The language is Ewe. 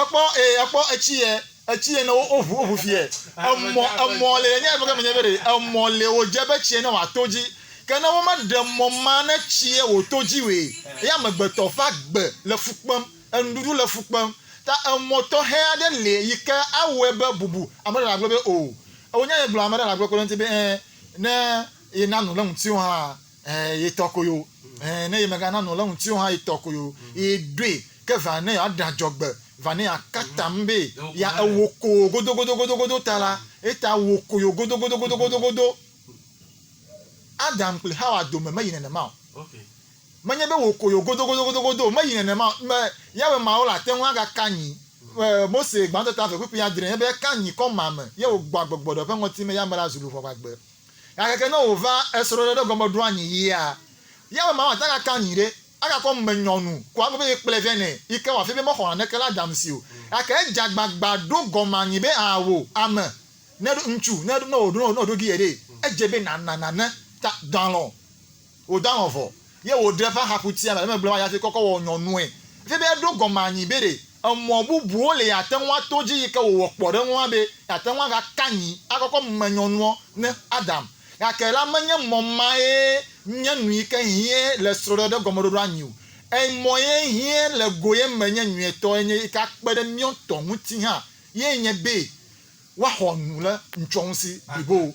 Ekpɔ e ekpɔ etsi yɛ etsi yɛ ne wo woʋu woʋu fi yɛ emɔ emɔ le yɛ nye efɔ ke me nye be ɖe emɔ le wo dze be tsiɛ ne wa to dzi ke ne wo me ɖe mɔ ma ne tsiɛ wo to dzi woe ye amegbetɔ ƒe agbe le fu kpem enuɖuɖu le fu kpem ta emɔ tɔxɛ aɖe le yi ke awɔɛ be bubu ame ɖe na gblɔ be o ewo nya ye gblɔ ame ɖe na gblɔ kpe ɖe ŋuti be ɛ ne ye na nu le ŋuti wo hã. Eh, ye tɔ koyo. Eh, ne ye mega nanu le ŋuti ha ye tɔ koyo. Ye ɖoe ke va ne ya ɖa jɔgbe va ne ya katam be ya ewo ko godo godo godo godo ta la eta wo koyo godo godo godo godo godo. Adam kpli Hawa dome me yi nenema o. Me nye be wo koyo godo godo godo godo me yi nenema o. Me Yahweh Mawu la teŋu aga ka nyi eh, Mose gbãtɔ ta ve kpikpi adre nye be ka nyi kɔma me ye wo gbɔ agbɔgbɔ ɖe ƒe ŋɔti me ya me la zu luvɔ vagbe. Gake ne wòva esrɔ̃ɖeɖe gɔme ɖo anyi yia, ya be mama dagaka anyi ɖe, agakɔ ŋumenyɔnu ko agbe be yekplɔe vɛ nɛ yi ke wòafia be mexɔ naneke le Adam si o. Gake edze agbagba ɖo gɔme anyi be aa wò, ame, ne ɖo, ŋutsu, ne ɖo, ne wòɖo, ne wòɖo gi ye ɖee, edze be nàna nane ta dɔalɔ̃ Wòdaŋɔ vɔ, ye wòɖe eƒe axaƒutia me le megble va yi hafi kɔkɔ wɔ nyɔnue. Efia be eɖo gɔme anyi be ɖe emɔ bubuwo li yeate ŋu ato dzi yi ke wòwɔ kpɔ ɖe eŋu hã be yeate ŋu agaka anyi akɔkɔ me nyɔnuɔ ne Adam. Gake la menye mɔ mae nye nu yi ke hiẽ le srɔ̃ɖeɖe gɔmeɖoɖoa nyi o. Ẽ, mɔ ye hiẽ le go ye me nye nyuietɔ enye yi ke akpe ɖe míawo ŋutɔ ŋuti hã ye nye be woaxɔ nu le ŋutsɔŋusi blibo.